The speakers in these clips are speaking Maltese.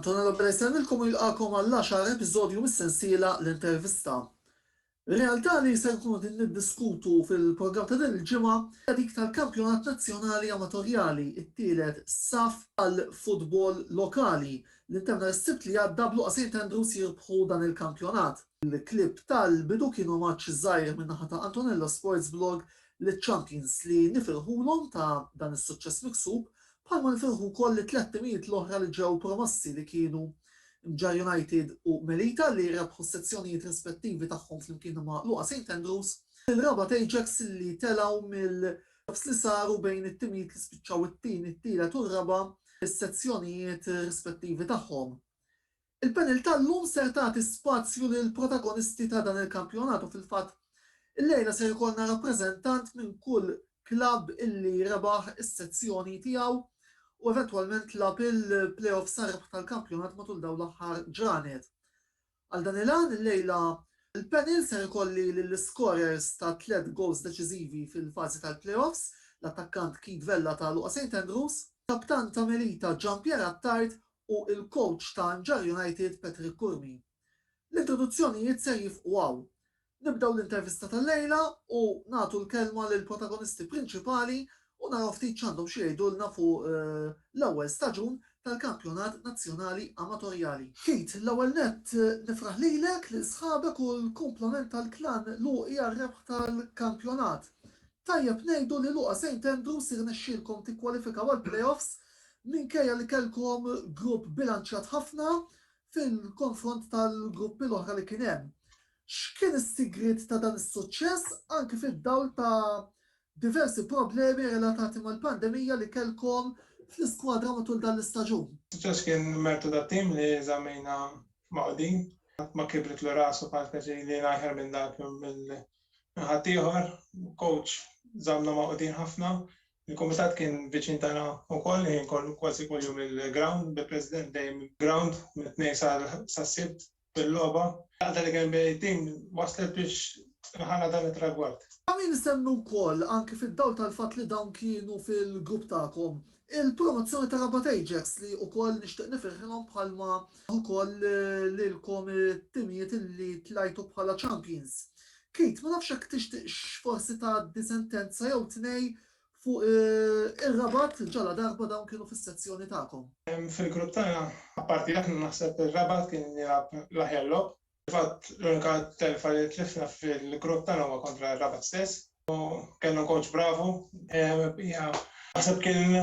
Antonio Lopera jsellmilkom u jilqagħkom għall-għaxar episodju mis-sensiela L-Intervista. Realtà li ser nkunu qegħdin niddiskutu fil-programm ta' din il-ġimgħa hija dik tal-Kampjonat Nazzjonali Amatorjali, it-tielet saff għall-futbol lokali L-Interner s-Sibt li għadda b'luqa St Andrews jirbħu dan il-kampjonat. Il-klieb tal-bidu kien omaġġ żgħir min-naħa ta' Antonello Sports Blog liċ-champions li nifirħulhom ta' dan is-suċċess miksub bħalma nifirħu wkoll lit-tliet timijiet l-oħra li ġew promossi li kienu Mġarr United u Melita li rebħu s-sezzjonijiet rispettivi tagħhom flimkien ma' Luqa St Andrews, il-Rabat Ajax li telgħu mill F'nofs li saru bejn it-timijiet li spiċċaw it-tieni, t-tielet u r-raba' fis-sezzjonijiet rispettivi tagħhom. Il-panel tal-lum ser tagħti spazju lill-protagonisti ta' dan il-kampjonat u fil-fatt illejla ser ikollna rappreżentant minn kull klabb illi rebaħ is-sezzjoni tiegħu u eventwalment lagħab il-play-offs għar-rebħ tal-kampjonat matul dawn l-aħħar ġranet. Għal dan il-għan illejla l-panel ser ikolli lill-iskorers ta' tliet gowls deċiżivi fil-fażi tal-playoffs, l-attakkant Keith Vella ta' Luqa St Andrews, kaptan ta' Melita Gian Pier Attard u l-kowċ ta' Nġarr United Patrick Curmi. L-introduzzjonijiet ser jifqu hawn. Nibdew l-intervista tal-lejla u nagħtu l-kelma lill-protagonisti prinċipali u naraw ftit x'għandhom xi jgħidulna fuq l-ewwel staġun tal-Kampjonat Nazzjonali Amatorjali. Keith, l-ewwel nett nifraħ lilek, lil sħabek u l-kumplament tal-Klan Luqi għar-rebħ tal-kampjonat. Tajjeb ngħidu li Luqa Saint Andrews irnexxielkom tikkwalifikaw għall-playoffs minkejja li kellkom grupp bilanċjat ħafna fil-konfront tal-gruppi l-oħra li kien hemm. X'kien is-sigriet ta' dan is-suċċess anki fid-dawl ta' diversi problemi relatati mal-pandemija li kellkom fl-iskwadra matul dan l-istaġun? Is-suċċess kien mertu tat-tim li żammejna magħqudin. Ħadd ma kibritlu ras u bħal speċi li jien ajħar minn dak jew minn ħaddieħor. Il-kowċ żammna magħqudin ħafna. Il-kumitat kien viċin tagħna wkoll il-ħin kollu, kważi kuljum il-grawnd, bil-President dejjem il-grawnd mit-Tnejn sas-Sibt. fil-logħba. Laqta li kien bejn it-tim wasslet biex tħalla dan it-tragward. Ta' min isemmi wkoll, anki fid-dawl tal-fatt li dawn kienu fil-grupp tagħkom, il-promozzjoni ta' Rabat Ajax li wkoll nixtieq nifirħilhom bħalma wkoll lilkom it-timijiet li tlajtu bħala champions. Keith, ma nafx jekk tixtieqx forsi tgħaddi sentenza jew tnej fuq ir-Rabat ġaladarba dawn kienu fis-sezzjoni tagħkom? Fil-grupp tagħna, apparti aħna, naħseb ir-Rabat kien jilgħab l-aħjar logħob. Fil-fatt, l-unika telfa li tliffna fil-grupp tagħna huwa kontra r-Rabat stess u kellhom kowċ bravu. Hija, naħseb kien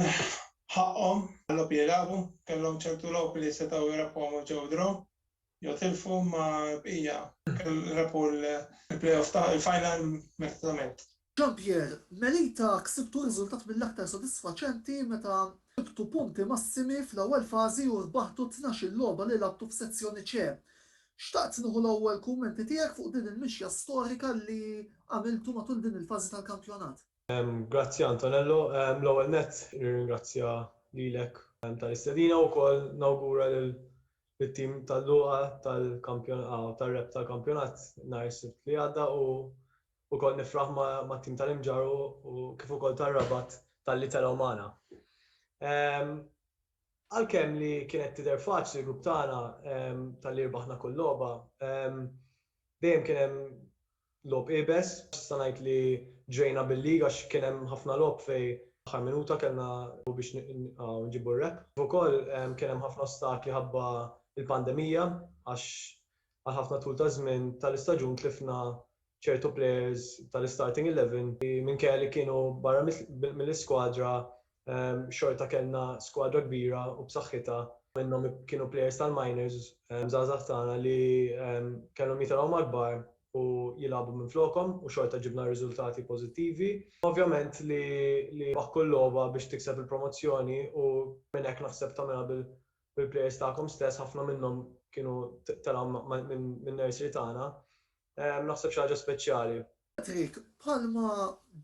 ħaqqhom għal-logħob li jilagħbu. Kellhom ċertu logħob li setgħu jrabħuhom u ġew draw. jew tilfu mal-bqija kemm rebħu l-playoff ta' il-final meritatament. Jean-Pierre, Melita ksibtu riżultat mill-aktar sodisfaċenti meta ġibtu punti massimi fl-ewwel fażi u rbaħtu t-tnax-il logħba li lagħbtu f'Sezzjoni C. Xtaqt nieħu l-ewwel kummenti tiegħek fuq din il-mixja storika li għamiltu matul din il-fażi tal-kampjonat. Grazzi Antonello, l-ewwel nett nirringrazzja lilek tal-istedina u wkoll nawgura lil It-tim tal-lugħa tar-rebħ tal-kampjonat nhar is-Sibt li għadda u wkoll nifraħ mat-tim tal-Imġarr u kif ukoll tar-Rabat talli telgħu magħna. Għalkemm li kienet tidher faċli l-grupp tagħna talli rbaħna kull logħba, dejjem kien hemm Logħob iebes, nista' ngħid li ġrejna bil-league għax kien hemm ħafna logħob fejn fl-aħħar minuta kellna logħob biex nġibu r-rebħ. Kif ukoll kien hemm ħafna ostakli ħabba l-pandemija għax għal ħafna tul ta' żmien tal-istaġun tlifna ċertu players tal-istarting eleven li minkejja li kienu barra mill-iskwadra xorta kellna skwadra kbira u b'saħħitha minnhom kienu plejers tal-minors żgħażagħ tagħna li kellhom jitilgħu mal-kbar u jilagħbu minflokhom u xorta ġibna riżultati pożittivi. Ovvjament li tbaħħ kull logħba biex tikseb il-promozzjoni u minn hekk naħseb tagħmilha bil-plejers tagħkom stess, ħafna minnhom kienu telgħu min-nursery tagħna naħseb xi ħaġa speċjali. Patrick, Bħalma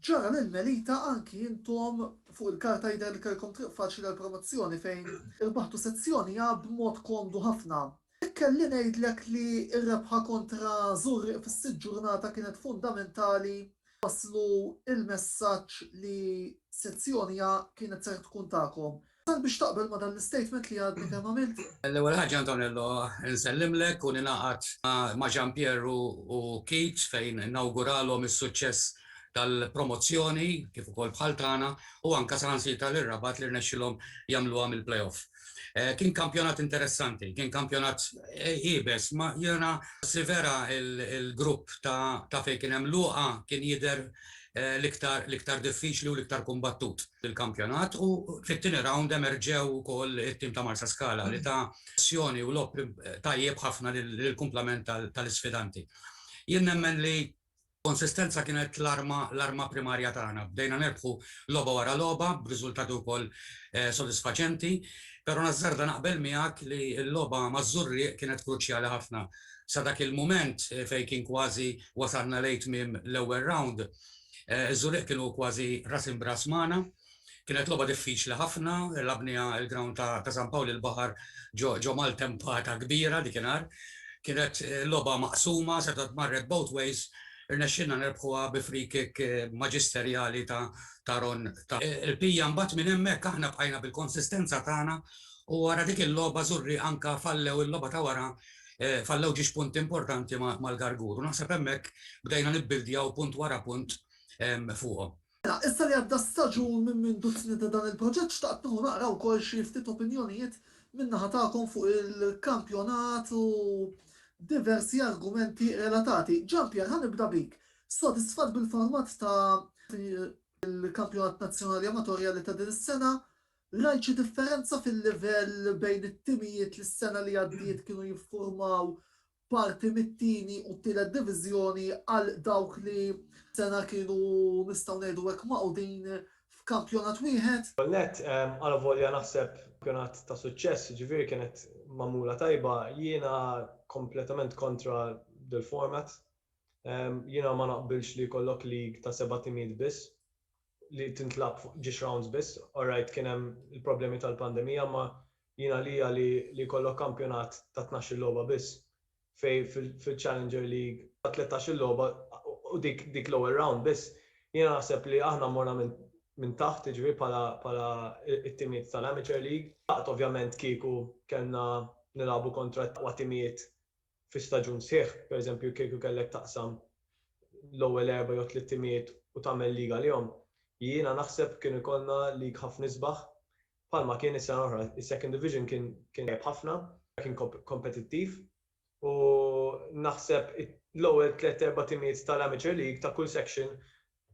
ġara lil Melita anki intom fuq il-karta jidher li kellkom triq faċli għall-promozzjoni fejn irbaħtu sezzjoni A b'mod komdu ħafna. Jekk kelli ngħidlek li r-rebħa kontra Żurrieq fis-sitt ġurnata kienet fundamentali nwasslu l-messaġġ li sezzjoni A kienet ser tkun tagħkom, Sal biex taqbel ma' dan l-istatement li għadni kemm għamiltu. L-ewwel ħaġa Antonello nsellimlek u ningħaqad ma' Jean Pierre u Keith fejn nawguralhom is-suċċess tal-promozzjoni kif ukoll bħal tagħna u anke saħansitra lil Rabat li rnexxilhom jagħmluha mill-playoff. Kien kampjonat interessanti, kien kampjonat iebes, ma jiena si vera l-grupp ta' fejn kien hemm Luqa kien jidher l-iktar diffiċli u l-iktar kumbattut fil-kampjonat u fit-tieni rawnd emerġew ukoll it-tim ta' Marsaskala li ta azzjoni u logħob tajjeb ħafna lill-kumplament tal-isfidanti. Jien nemmen li konsistenza kienet l-arma primarja tagħna. Bdejna nirbħu logħba wara logħba b'riżultati wkoll sodisfaċenti, però nażżarda naqbel miegħek li l-logħba maż-Żurrieq kienet kruċjali ħafna sa dak il-mument fejn kien kważi wasalna lejn tmiem l-ewwel round, iż-Żurieq kienu kważi ras imb'ras magħna. Kienet logħba diffiċli ħafna, lagħbniha l-ground ta' San Pawl il-Baħar ġo maltempata kbira dik inhar. Kienet logħba maqsuma, setgħet marret both ways, irnexxielna nerbħuha bi free kick maġisterjali ta' Ron Taffa. Il-bqija mbagħad minn hemmhekk aħna bqajna bil-konsistenza tagħna u wara dik il-logħba Żurrieq anke fallew il-logħba ta' wara fallew ġiex punti importanti mal-Garguru. Naħseb hemmhekk bdejna nibbildjaw punt wara punt fuqhom. Mela, issa li għadda staġun minn mindu tnieda dan il-proġett xtaqt nieħu naqra wkoll xi ftit opinjonijiet min-naħa tagħkom fuq il-kampjonat u diversi argumenti relatati. Jean Pierre, ħa nibda bik. Sodisfatt bil-format ta' il-kampjonat nazzjonali amatorjali ta' din is-sena? Rajt xi differenza fil-livell bejn it-timijiet li s-sena li għaddiet kienu jiffurmaw parti mit-tieni u t-tielet diviżjoni għal dawk li sena kienu nistgħu ngħidu hekk magħqudin f'kampjonat wieħed? L-ewwel nett, alavolja naħseb kampjonat ta' suċċess, jiġifieri kienet magħmula tajba, jiena kompletament kontra dil-format. Jiena ma naqbilx li jkollok league ta' seba' timijiet biss. li tintlagħab fuq ġiex rounds biss, orrajt kien hemm il-problemi tal-pandemija imma jien għalija li li jkollok kampjonat ta' tnax-il logħba biss fejn fil-Challenger League ta' tlettax-il logħba u dik dik l-ewwel round biss jiena naħseb li aħna morna minn minn taħt jiġifieri bħala bħala t-timijiet tal-Amateur League. Xtaqt ovvjament kieku kellna nilagħbu kontra l-aqwa timijiet fi staġun sħiħ, pereżempju kieku kellek taqsam l-ewwel erba' jew tliet timijiet u tagħmel league għalihom, jiena naħseb kienu jkollna league ħafna isbaħ bħalma kien is-sena l-oħra. Is-second division kien tajjeb ħafna, kien kompetittiv u naħseb l-ewwel tliet erba' timijiet tal-amateur league ta' kull section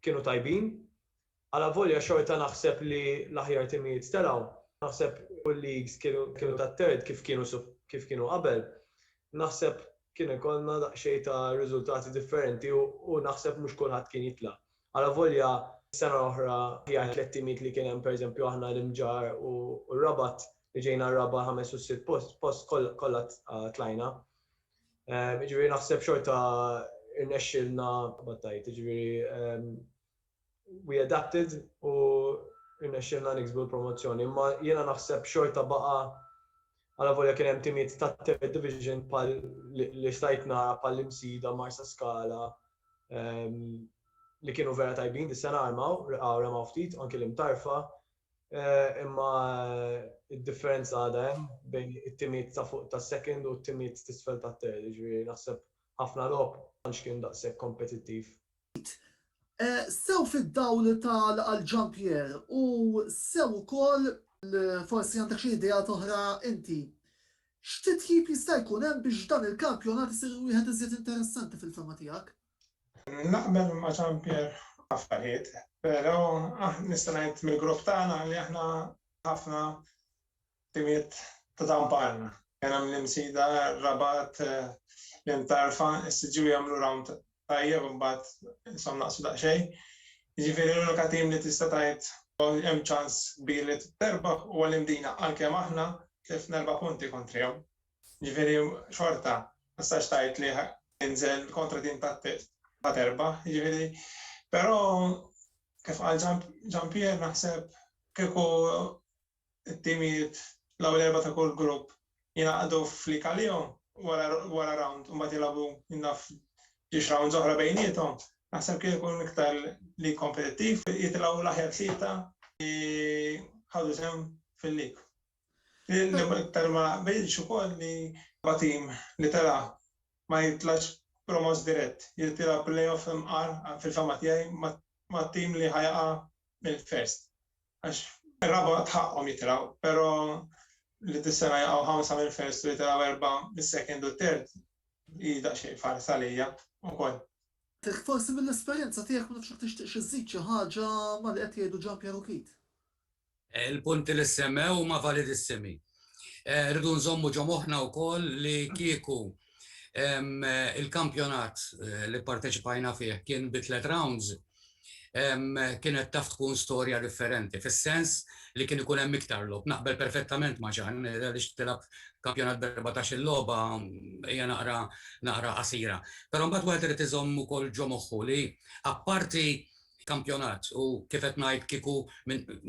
kienu tajbin Alavolja xorta naħseb li l-aħjar timijiet telgħu, naħseb u l-leagues kienu ta' third kif kienu kif kienu qabel, naħseb kien ikollna daqsxejn ta' riżultati differenti u naħseb mhux kulħadd kien jitla'. Alavolja s-sena l-oħra l-aħjar tliet timijiet li kien hemm pereżempju aħna l-Imġarr u r-Rabat li ġejna r-raba' ħames u s-sitt post kollha tlajna. Jiġifieri naħseb xorta rnexxielna battajt jiġifieri we adapted u rnexxielna niksbu l-promozzjoni. Imma jiena naħseb xorta baqa' għalavolja kien hemm timijiet tat-Third Division bħal li stajt nara bħal l-Imsida, Marsaskala ehm, li kienu vera tajbin dis-sena armaw, reqgħu remaw ftit, anki l-imtarfa, eh, imma id-differenza għadha hemm bejn it-timijiet ta' fuq tas-second u t-timijiet tisfel tat-third, ġifieri naħseb ħafna logħob għandx kien daqshekk kompetittiv. sew fid-dawl ta' Al Jean-Pierre u sew ukoll, forsi għandek xi ideat oħra inti, x'titjib jista' jkun hemm biex dan il-kampjonat isir wieħed iżjed interessanti fil-fehma tiegħek? Naqbel ma' Jean-Pierre f'affarijiet, pero' nista' ngħid mill-grupp tagħna li aħna ħafna Timijiet ta' Tampan, Għena minn Imsida, Rabat, l-Imtarfa, is-Siġġiewi jagħmlu round tajjeb imbagħad ishom naqsu daqsxejn. Jiġifieri l-unika tim li tista' tgħid hemm ċans kbir li terbaħ huwa l-Imdina għalkemm aħna tlifna erba' punti kontrihom. Jiġifieri xorta ma tistax tgħid li tinżel kontra tim ta' Test ħa terbaħ. Jiġifieri però kif qal Gian Pier naħseb kieku it-timijiet l-ewwel erba' ta' kull grupp jingħaqdu fl-Ikaleo wara rawnd u mbagħad jilagħbu naf ġiex rounds oħra bejniethom, naħseb kien ikun iktar lig kompetittiv u jitilgħu l-aħjar tlieta li ħadu sehem fil-lig. L-iktar ma naqbilx ukoll li l-erba' tim li tela' ma jitlax promoss dirett, jrid jilgħab play-off imqar fil-fehma tiegħi mat-tim li ħa jaqa' mill-first. għax ir-raba' tħaqqhom jitilgħu, però li dis-sena jaqgħu ħamsa mill-first u jitilgħu erbgħa mis-second u t-third hi daqsxejn farsa għalija wkoll. Hekk forsi mill-esperjenza tiegħek ma nafx jekk tixtieqx iżżid xi ħaġa ma' li qed jgħidu Jean Pierre u Keith. Il-punti li ssemmew huma validissimi. Rridu nżommu ġo moħħna wkoll li kieku il-kampjonat li pparteċipajna fih kien bi tliet rounds, kienet taf tkun storja differenti, fis-sens li kien ikun hemm iktar logħob. Naqbel perfettament ma' Ġann, għaliex tilgħab kampjonat b' erbatax-il logħba hija naqra qasira. Però mbagħad wieħed irid iżomm ukoll ġo moħħu li apparti kampjonat u kif qed ngħid kieku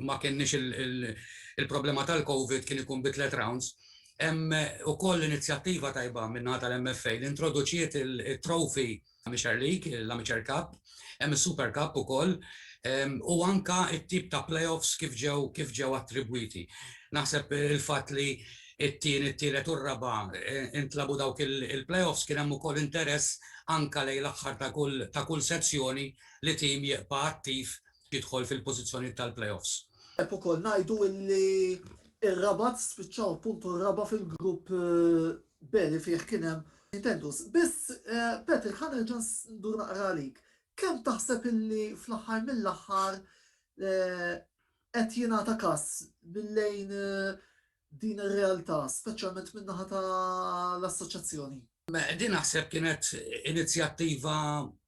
ma kenniex il-problema tal-Covid kien ikun bi tliet rounds. Hemm ukoll inizjattiva tajba min-naħa tal-MFA li introduċiet it-trophy Amateur League, l-Amateur Cup, hemm is-Super Cup ukoll, u anke t-tip ta' playoffs kif ġew kif ġew attribwiti. Naħseb il-fatt li t-tieni, t-tielet u r-raba' intlagħbu dawk il-playoffs kien hemm ukoll interess anke lejn l-aħħar ta' kull sezzjoni li tim jibqa' attiv jidħol fil-pożizzjonijiet tal-playoffs. Hekk ukoll ngħidu illi r-Rabat spiċċaw appuntu r-raba' fil-grupp B li fih kien hemm Juventus. Biss Patrick ħa nerġa' ndur naqra għalik. Kemm taħseb illi fl-aħħar mill-aħħar qed jingħata kas minn lejn din ir-realtà, speċjalment min-naħa ta' l-Assoċjazzjoni? Din naħseb kienet inizjattiva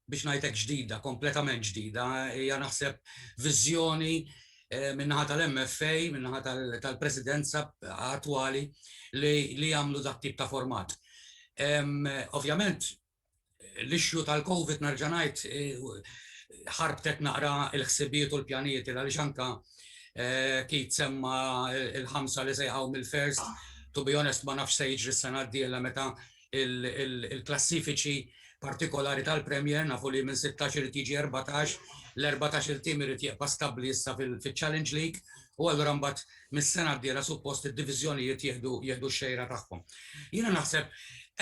biex ngħid hekk ġdida, kompletament ġdida, hija naħseb viżjoni eh, min-naħa tal-MFA, min-naħa tal-presidenza attwali li jagħmlu dak tip ta' format. Ovvjament, l-issue tal-Covid nerġa' ngħid ħarbtet naqra l-ħsibijiet u l-pjanijiet għaliex anke Keith semma l-ħamsa li se jqgħu mill-first. To be honest ma nafx se jiġri s-sena d-dieħla meta l-klassifiċi partikolari tal-Premier nafu li minn sittax irid jiġi erbatax, l-erbatax-il team irid jibqa' stabbli issa fiċ-Challenge League u allura mbagħad mis-sena d-dieħla suppost id-diviżjonijiet jieħdu jieħdu x-xejra tagħhom. Jiena naħseb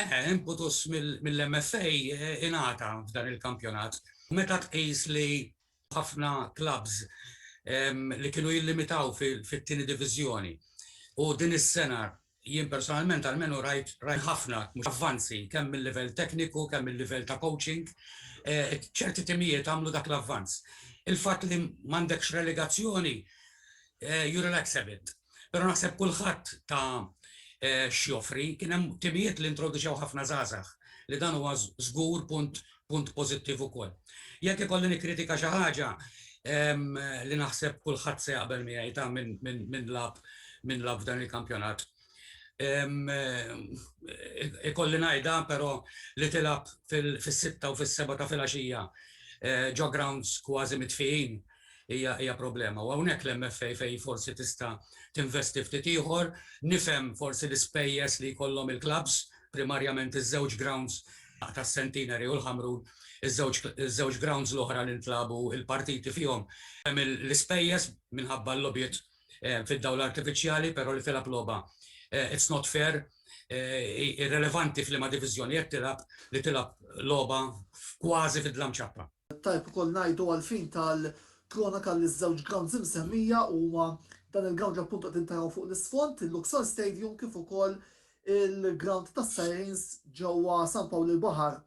eh, imputus mill-MFA ingħata f'dan il-kampjonat. Meta tqis li ħafna clubs li kienu jillimitaw fit-tieni diviżjoni u din is-sena Jien personalment almenu rajt ħafna avvanzi kemm mil-livell tekniku, kemm mil-livell ta' coaching. Ċerti timijiet għamlu dak l-avvanz. Il-fatt li m'għandekx relegazzjoni, you relax a bit. Però naħseb kulħadd ta x'joffri. Kien hemm timijiet li introduċew ħafna żgħażagħ, li dan huwa żgur punt punt pożittiv ukoll. Jekk ikolli nikkritika xi ħaġa li naħseb kulħadd se jaqbel miegħi ta' min lagħab min lagħab f'dan il-kampjonat. Ikolli ngħidha però li tilgħab fis-sitta u fis-seba' ta' filgħaxija ġo grounds kważi mitfijin hija hija problema. U hawnhekk l-MFA fejn forsi tista' tinvesti ftit ieħor, nifhem forsi l-ispejjeż li jkollhom il-klabbs, primarjament iż-żewġ grounds tas-Centenary u l-Ħamrun, iż-żewġ iż-żewġ grounds l-oħra li ntlagħbu l-partiti fihom, hemm l-ispejjeż minħabba l-logħbiet fid-dawl artifiċjali, però li tilgħab logħba it's not fair, irrelevanti f'liema diviżjoni qed tilgħab, li tilgħab logħba kważi fid-dlam ċappa. Tajjeb ukoll ngħidu għall-fin tal-kronoka li ż-żewġ grounds imsemmija huma dan il-ground li appuntu qegħdin taraw fuq l-isfond, il-Luxor Stadium kif ukoll il-ground tas-Sirens ġewwa San Pawl il-Baħar.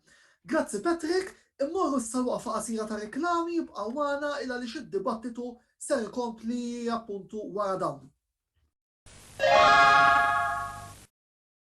Grazzi Patrick, immorru issa għal waqfa qasira ta' riklami, ibqgħu magħna il għaliex id-dibattitu ser ikompli appuntu wara dawn.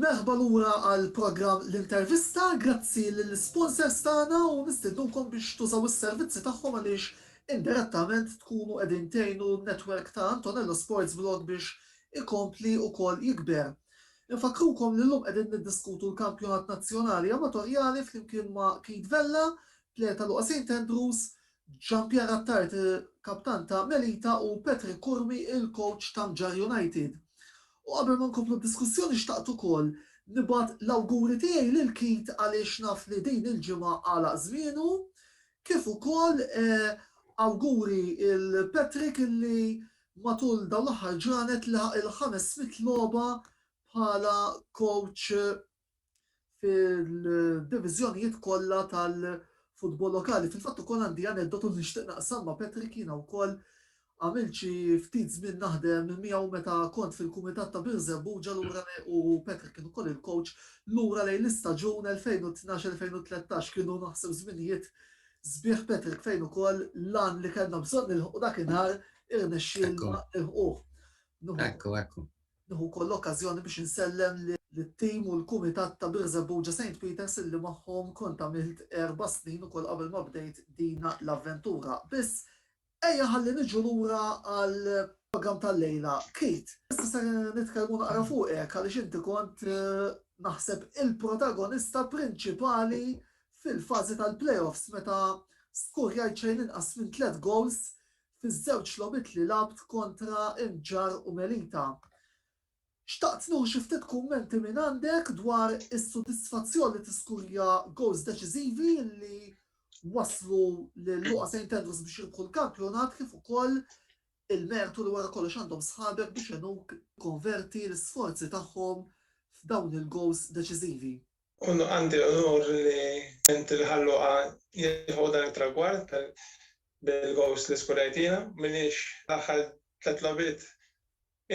Merħba lura għal programm L-Intervista. Grazzi lill-isponsors tagħna u nistiednukom biex tużaw is-servizzi tagħhom għaliex indirettament tkunu qegħdin tgħinu n-network ta' Antonello Sports Vlog biex ikompli wkoll jikber. Infakkrukom li llum qegħdin niddiskutu l-Kampjonat Nazzjonali Amatorjali flimkien ma' Keith Vella, plejer ta' Luqa Saint Andrews, Jean-Pierre Attard, kaptan ta' Melita u Patrick Curmi, il-kowċ ta' Mġarr United. U qabel ma nkomplu d-diskussjoni xtaqt ukoll nibgħat l-awguri tiegħi lil Keith għaliex naf li din il-ġimgħa għalaq żmienu, kif ukoll awguri 'l Patrick illi matul dawn l-aħħar ġranet laħaq il-ħames mitt logħba bħala coach fil-diviżjonijiet kollha tal-futbol lokali. Fil-fatt ukoll għandi aneddotu li nixtieq naqsam ma' Patrick jiena wkoll għamilt xi ftit żmien naħdem miegħu meta kont fil-Kumitat ta' Birżebbuġa lura u Patrick kien ukoll il-coach lura lejn l-istaġun 2012-2013 kienu naħseb żminijiet sbieħ Patrick fejn ukoll lan li kellna bżonn nilħqu dakinhar irnexxielna nilħquh. Ekku, ekku. Nieħu wkoll l-okkażjoni biex insellem lit-tim u l-kumitat ta' Birżebbuġa Saint Peters illi magħhom kont għamilt erba' snin ukoll qabel ma bdejt din l-avventura. Biss, ejja ħalli niġu lura għall-programm tal-lejla. Keith, issa ser nitkellmu naqra fuqek għaliex inti kont, naħseb, il-protagonista prinċipali fil-fażi tal-play-offs meta skurjajt xejn inqas minn tliet gowls fiż-żewġ logħbiet li lgħabt kontra l-Ġarr u Melita. Xtaqt nieħu xi ftit kummenti minn għandek dwar is-sodisfazzjon li tiskurja gowls deċiżivi li waslu lil Luqa St. Andrews biex jirbħu l-kampjonat kif ukoll il-mertu li wara kollox għandhom sħabek biex għenuk tikkonverti l-isforzi tagħhom f'dawn il-gowls deċiżivi. U għandi l-onur li int il-Ħalluqa jilħqu dan it-tragward bil-gowls li skurajtina. Minix l-aħħar tliet logħbiet,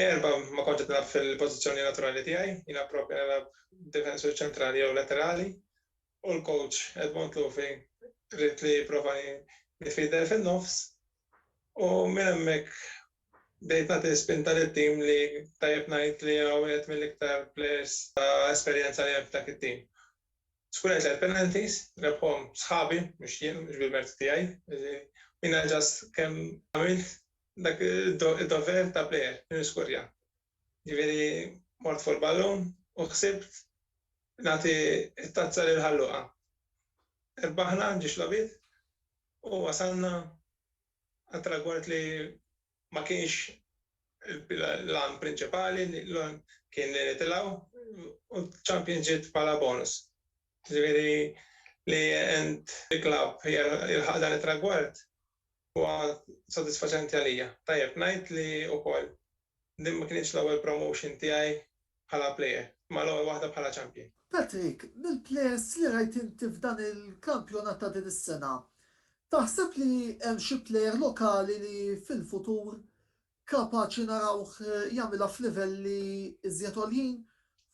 erbgħa ma kontx qed nilgħab fil-pożizzjoni naturali tiegħi, jiena proprja nilgħab difensur ċentrali jew laterali u l-kowċ Edmond Lufi ried li jipprova jnifider fin-nofs u minn hemmhekk Bdejt nagħti spinta lit-tim li tajjeb ngħid li hu wieħed mill-iktar plejers ta' esperjenza li hemm f'dak it-tim. Skurajt tliet penalties, rebħhom sħabi mhux jien, mhux bil-mertu tiegħi, u jiena ġast kemm għamilt dak id-dover ta' plejer li niskurja. Jiġifieri mort fuq il-ballun u ħsibt nagħti t-tazza lil Ħal Luqa. Rebbaħna ġiex logħbiet u wasalna għal tragward li ma kienx l-għan prinċipali, l-għan kien li nitilgħu u ċ-Champions ġiet bħala bonus. Ġifieri li int il-klabb jilħaq dan it-tragward huwa sodisfaċenti għalija. Tajjeb ngħid li wkoll Din ma kinitx l-ewwel promotion tiegħi bħala plejer, imma l-ewwel waħda bħala champion. Patrick, mill-plejers li rajt inti f'dan il-kampjonat ta' din is-sena, taħseb li hemm xi plejer lokali li fil-futur kapaċi narawh jagħmilha f'livelli iżjed għoljin,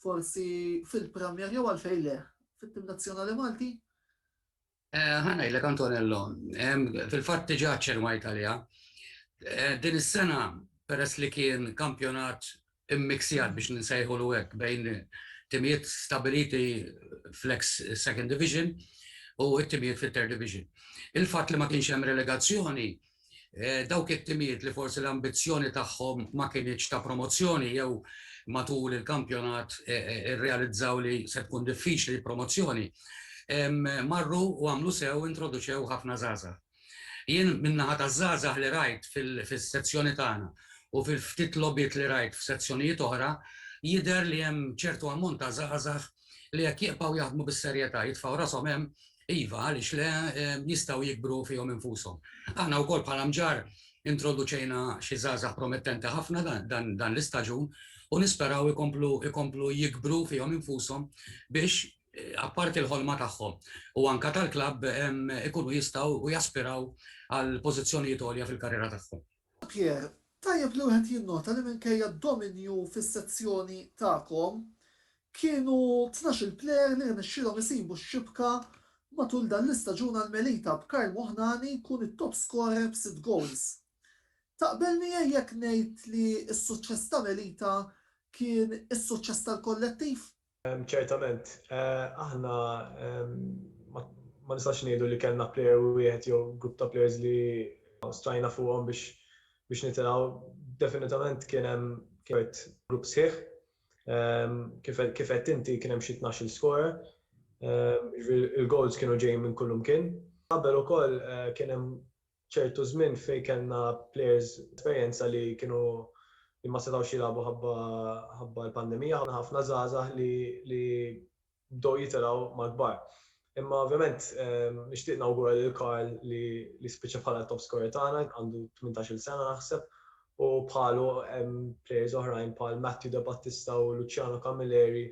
forsi fil-Premier jew għalfejn le, fit-tim nazzjonali Malti? Ħa ngħidlek Antonello, fil-fatt diġà ċċernwajt għaliha. Din is-sena peress li kien kampjonat immiksjat biex nsejħulu hekk bejn timijiet stabiliti fl-eks Second Division u t-timijiet fit-Third Division. Il-fatt li ma kienx hemm relegazzjoni Dawk it-timijiet li forsi l-ambizzjoni tagħhom ma kinitx ta' promozzjoni jew matul il-kampjonat irrealizzaw li se tkun diffiċli l-promozzjoni, marru u għamlu sew introduċew ħafna żgħażagħ. Jien min-naħa taż-żgħażagħ li rajt fis-sezzjoni tagħna u fil-ftit logħbiet li rajt f'sezzjonijiet oħra, jidher li hemm ċertu ammont ta' żgħażagħ li jekk jibqgħu jaħdmu bis-serjetà, jitfgħu rashom hemm, iva, għaliex le, jistgħu jikbru fihom infushom. Aħna wkoll bħala mġar introduċejna xi żgħażagħ promettenti ħafna dan l-istaġun u nisperaw ikomplu jikbru fihom infushom biex apparti l-ħolma tagħhom u anke tal-klabb ikunu jistgħu u jaspiraw għal pożizzjonijiet għolja fil-karriera tagħhom. Pierre, Tajjeb li wieħed jinnota li minkejja d-dominju fis-sezzjoni tagħkom, kienu tnax-il plejer li rnexxielhom isibu x-xibka matul dan l-istaġun għal Melita b'Karl Moħnani jkun it-top scorer b'sitt goals. Taqbel miegħi jekk ngħid li s-suċċess ta' Melita kien is-suċċess tal-kollettiv? Ċertament, aħna ma nistax ngħidu li kellna plejer wieħed jew grupp ta' plejers li stajna fuqhom biex biex nitilgħu. Definitament kien hemm kert grupp sħiħ. Kif kif għedt inti kien hemm xi tnax-il skorer. Jiġifieri l-goals kienu ġejjin minn kull imkien. Qabel ukoll kien hemm ċertu żmien fejn kellna plejers b'esperjenza li kienu li ma setgħux jilagħbu ħabba l-pandemija, ħafna żgħażagħ li bdew jitilgħu mal-kbar. Imma ovvjament nixtieq nawgura lil Karl li spiċċa bħala t-top scorer tagħna, għandu tmintax-il sena naħseb, u bħalu hemm plejers oħrajn bħal Matthew Debattista u Luciano Camilleri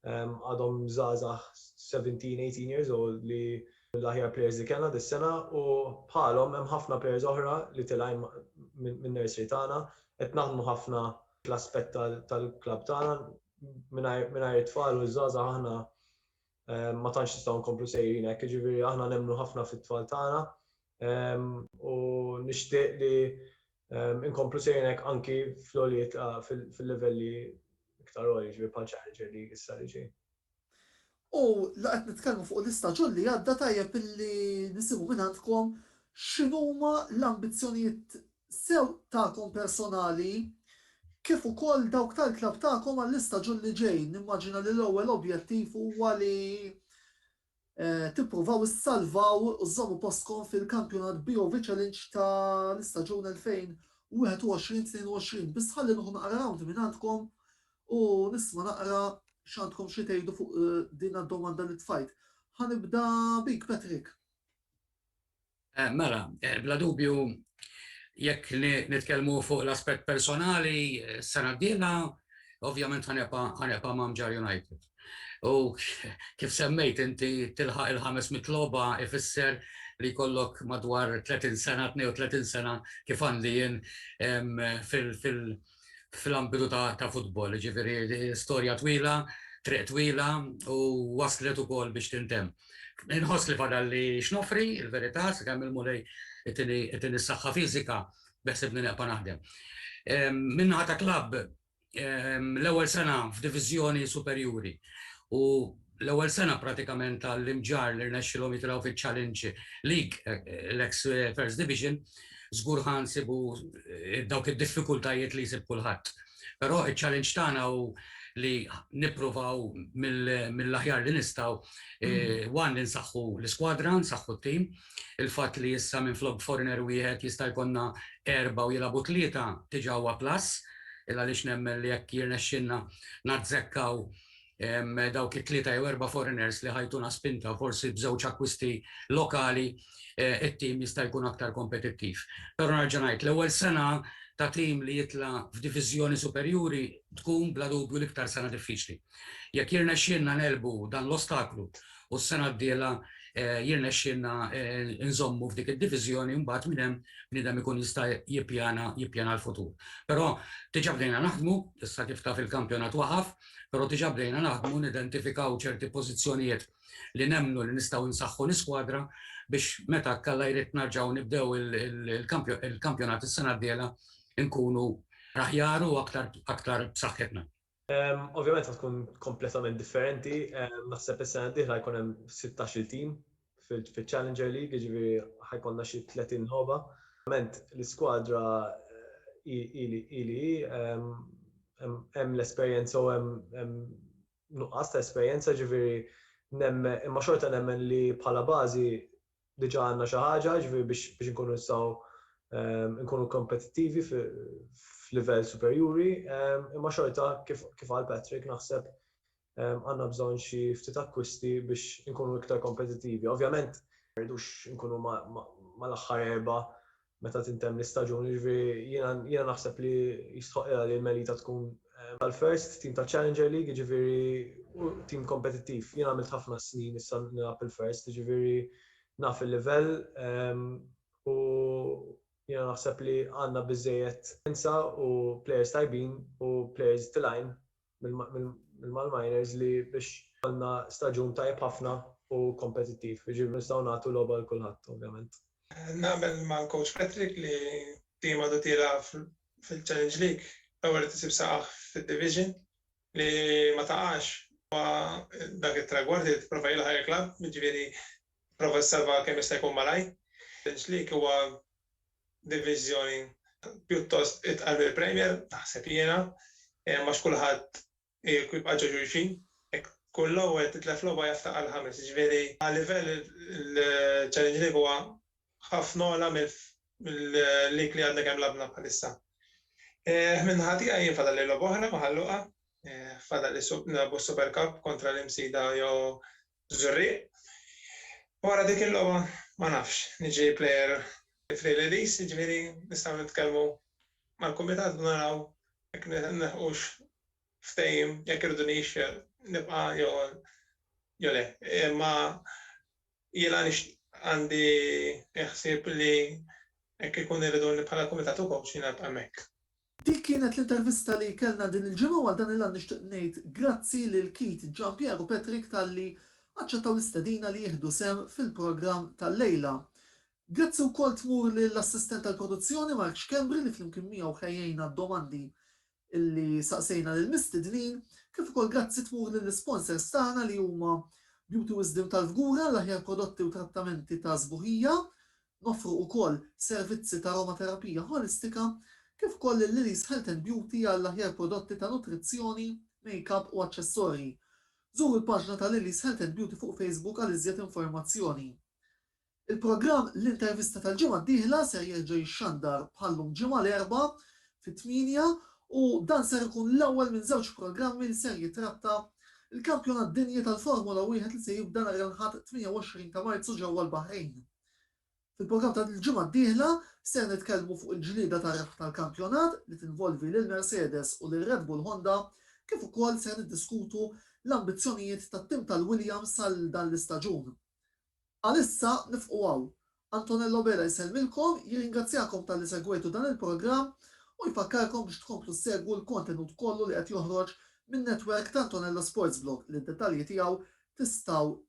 għadhom żgħażagħ 17, 18 years old li mill-aħjar players li kellna dis-sena u bħalhom hemm ħafna players oħra li tilgħin min-nursery tagħna. Qed naħdmu ħafna fl-aspett tal-klabb tagħna. Mingħajr it-tfal u ż-żgħażagħ aħna ma tantx nistgħu nkomplu sejrin hekk. Jiġifieri aħna nemmnu ħafna fit-tfal tagħna u nixtieq li inkomplu sejnek anki fl-għoliet fil-livelli iktar għoli ġifieri bħal Challenger li issa li ġej. U la qed nitkellmu fuq l-istaġun li għadda tajjeb illi nisimgħu minn għandkom x'inhuma l-ambizzjonijiet sew tagħkom personali kif ukoll dawk tal-klabb tagħkom għall-istaġun li ġej. Nimmaġina li l-ewwel objettiv huwa li tippruvaw issalvaw u żżommu postkom fil-Kampjonat BOV Challenge ta' l-istaġun 2021-22 biss ħalli nieħu naqra round mingħandkom u nisma' naqra x'għandkom xi tgħidu fuq din d-domanda li tfajt. Ħa nibda bik Patrick. Mela, bla dubju jekk nitkellmu fuq l-aspett personali, sena d-dieħla ovvjament ħanibqa' ma' Mġarr United. U kif semmejt inti tilħaq il-500 logħba ifisser li jkollok madwar 30 sena, 32 sena kif għandi jien fil-Mġarr fl-ambitu ta' futbol, ġifiri storja twila, triq twila u waslet u kol biex tintem. Nħos li fadal li xnofri, il-verita, s kemm il-mulej it-tini s-saxħa fizika, beħseb li neqpa naħdem. Minnaħa ta' klab, l-ewel sena f'divizjoni superjuri u l-ewwel sena pratikament tal-Imġarr li rnexxilhom jitilgħu fiċ-Challenge League, l-eks First Division, żgur ħa nsibu dawk id-diffikultajiet li jsib kulħadd. Però iċ-challenge tagħna hu li nippruvaw mill-aħjar li nistgħu, one li nsaħħu l-iskwadra, nsaħħu t-tim. Il-fatt li issa minflok foreigner wieħed jista' jkollna erbgħa u jilagħbu tlieta diġà huwa plus, il għaliex nemmen li jekk jirnexxilna nazzekkaw dawk it-tlieta jew erba' foreigners li ħajtuna spinta forsi b'żewġ akkwisti lokali it-tim jista' jkun aktar kompetittiv. Però nerġa' ngħid, l-ewwel sena ta' tim li jitla' f'diviżjoni superjuri tkun bla dubju l-iktar sena diffiċli. Jekk jirnexxielna negħlbu dan l-ostaklu u s-sena d-dieħla jirnexxielna nżommu f'dik id-diviżjoni mbagħad minn hemm bniedem ikun jista' jippjana l-futur. Però diġà bdejna naħdmu, issa kif taf il-kampjonat waqaf, però diġà bdejna naħdmu nidentifikaw ċerti pożizzjonijiet li nemmnu li nistgħu nsaħħu l-iskwadra biex meta hekk Alla jrid narġgħu nibdew il-kampjonat is-sena d-dieħla nkunu aħjar u aktar b'saħħitna. Ovvjament se tkun kompletament differenti, naħseb is-sena d-dieħla jkun hemm sittax-il tim fiċ-Challenger League, jiġifieri ħajkollna xi 30 logħba. Ovvjament l-iskwadra hi li hi, hemm l-esperjenza u hemm nuqqas ta' esperjenza, jiġifieri nemmen, imma xorta nemmen li bħala bażi diġà għandna xi ħaġa, jiġifieri biex inkunu nistgħu nkunu kompetittivi f'livell superjuri, imma xorta kif qal Patrick naħseb għandna bżonn xi ftit akkwisti biex inkunu iktar kompetittivi. Ovvjament, ma rridux inkunu mal-aħħar erbgħa meta tintemm l-istaġun, jiġifieri jiena naħseb li jistħoqqilha li l-Melita tkun mal-first team taċ-Challenger League, jiġifieri tim kompetittiv. Jien għamilt ħafna snin issa nilgħab il-first, jiġifieri naf il-livell u jiena naħseb li għandna biżżejjed esperjenza u plejers tajbin u plejers tilgħin mill-malminers li biex ikollna staġun tajjeb ħafna u kompetittiv. Jiġifieri nistgħu nagħtu logħba lil kulħadd ovvjament. Naqbel mal-coach Patrick li tim għadu tiela' fil-Challenge League l-ewwel irid isib saqajh fid-Division. Li ma taqax huwa dak it-tragward li tipprova jilħaq il-klabb, jiġifieri Prova ssalvaha kemm jista' jkun malajr. Denclik huwa diviżjoni pjuttost itqal mill-Premier, naħseb jiena, għax kulħadd irid jibqa' ġo xulxin. Jekk tkun l-ewwel titlef logħba jaftaq għall-ħames, jiġifieri għal-livell il-Challenge League huwa ħafna ogħla mill-league li għadna kemm lagħbna bħalissa. Min-naħa tiegħi jien fadalli logħba oħra ma' Ħal Luqa, fadalli nilagħbu s-Super Cup kontra l-Imsida jew Żurrieq, Wara dik il-logħba ma nafx, niġi plejer f'din l-Elise, jiġifieri nistgħu nitkellmu mal-kumitat u naraw jekk nilħqux ftehim jekk iridunix nibqa' jew le. Imma jiena għandi l-ħsieb li jekk ikun iriduni bħala kumitat u kowċ jiena nibqa' hemmhekk. Dik kienet l-intervista li kellna din il-ġimgħa u għal dan il-għan nixtieq ngħid grazzi lil Keith, Gian Pier u Patrick talli aċċettaw l-istedina li jieħdu sehem fil-programm tal-lejla. Grazzi wkoll tmur lill-assistent tal-produzzjoni Mark Schembri li flimkien miegħu ħejjejna d-domandi li saqsejna lill-mistednin, kif ukoll grazzi tmur lill-isponsors tagħna li huma Beauty Wisdom tal-Fgura, l-aħjar prodotti u trattamenti ta' sbuħija, Noffru wkoll servizzi t'aromaterapija ħolistika kif ukoll lil Lily's Health and Beauty għall-aħjar prodotti ta' nutrizzjoni, makeup u aċċessorji. Żuru l-paġna ta' Lily's Health and Beauty fuq Facebook għal iżjed informazzjoni. Il-programm L-Intervista tal-ġimgħa d-dieħla ser jerġa' jixxandar bħal-lum Ġimgħa l-Erbgħa fit-tmienja u dan ser ikun l-ewwel minn żewġ programmi li ser jitratta l-Kampjonat Dinji tal-Formula Wieħed li se jibda nhar il-Ħadd 28 ta' Marzu ġewwa l-Baħrejn. Fil-programm tal-ġimgħa d-dieħla ser nitkellmu fuq il-ġlieda tar-rebħ tal-kampjonat li tinvolvi lil Mercedes u lil Red Bull Honda kif ukoll ser niddiskutu l-ambizzjonijiet tat-tim tal-Williams għal dan l-istaġun. Għalissa nifqu hawn. Antonello Bela jsellmilkom, jirringrazzjakom talli segwejtu dan il-programm u jfakkarkom biex tkomplu ssegwu l-kontenut kollu li qed joħroġ min-netwerk ta' Antonello Sportsblog li d-dettalji tiegħu tistgħu